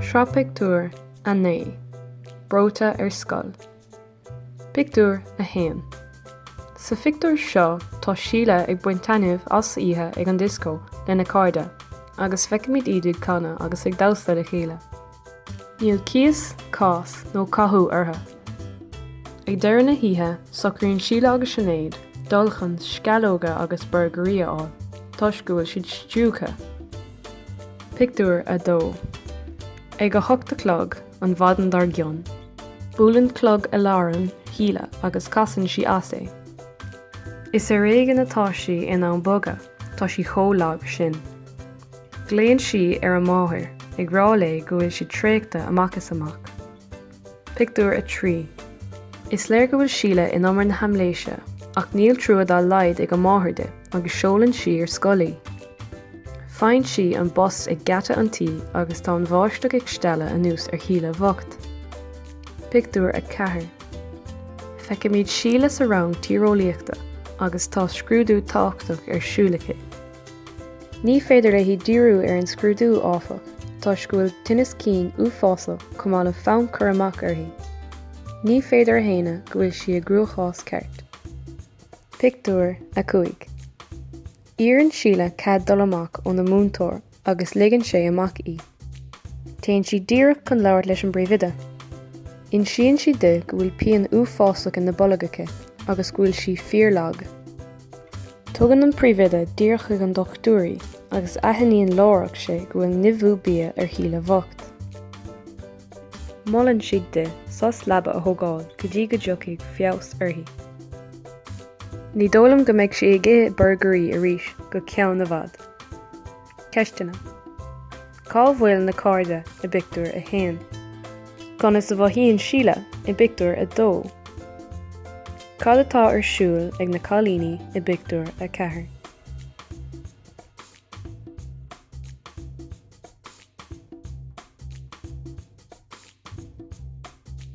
Sraith Pictiúr 9 Breoite ar Scoil Pictiúr 1 Sa phictiúr seo tá Síle ag baint taitneamh as oíche ag an dioscó lena cairde agus feicimid iad ag canadh agus ag damhsa le chéile. Níl cíos, cás nó cathú orthu. Ag deireadh na hoíche, socraíonn Síle agus Sinéad dul chun sceallóga agus burgairí a fháil toisc go bhfuil siad stiúgtha. Pictiúr 2 Ag a hocht a chlog an mhaidin dár gcionn, buaileann clog aláraim Shíle agus casann sí as é. Is ar éigean atá sí in ann bogadh, tá sí chomh lag sin. Glaonn sí ar a máthair, ag rá léi go bhfuil sí traochta amach is amach. Pictiúr 3 Is léir go bhfuil Síle in umar na haimléise, ach níl trua dá laghad ag a máthair di agus seolann sí ar scoil í. Faigheann sí an bus ag geata an tí agus tá an bháisteach ag stealladh anuas ar Shíle bhocht. Pictiúr 4 Feicimid Síle sa rang tíreolaíochta agus tá scrúdú tábhachtach ar siúl aici. Ní féidir léi díriú ar an scrúdú, áfach, toisc go bhfuil tinneas cinn uafásach chomh maith le fonn cur amach uirthi. Ní féidir a shéanadh go bhfuil sí i gcruachás ceart. Pictiúr 5 Iarrann Síle cead dul amach óna múinteoir agus ligeann sé amach í. Téann sí díreach chun labhairt leis an bpríomhoide. Insíonn sí di go bhfuil pian uafásach ina bolg aici agus go bhfuil sí fíorlag. Tugann an príomhoide díreach chuig an dochtúir í agus aithníonn láithreach sé go bhfuil nimhiú bia ar Shíle bhocht. Molann sí di sos leaba a thógáil go dtí go dtiocfaidh feabhas uirthi. Ní dóigh liom go mbeidh sí ag ithe burgairí arís go ceann i bhfad. Ceisteanna, Cá bhfuil na cairde i bpictiúr a haon? Conas a mhothaíonn Síle i bpictiúr a dó? Cad atá ar siúl ag na cailíní i bpictiúr a ceathair?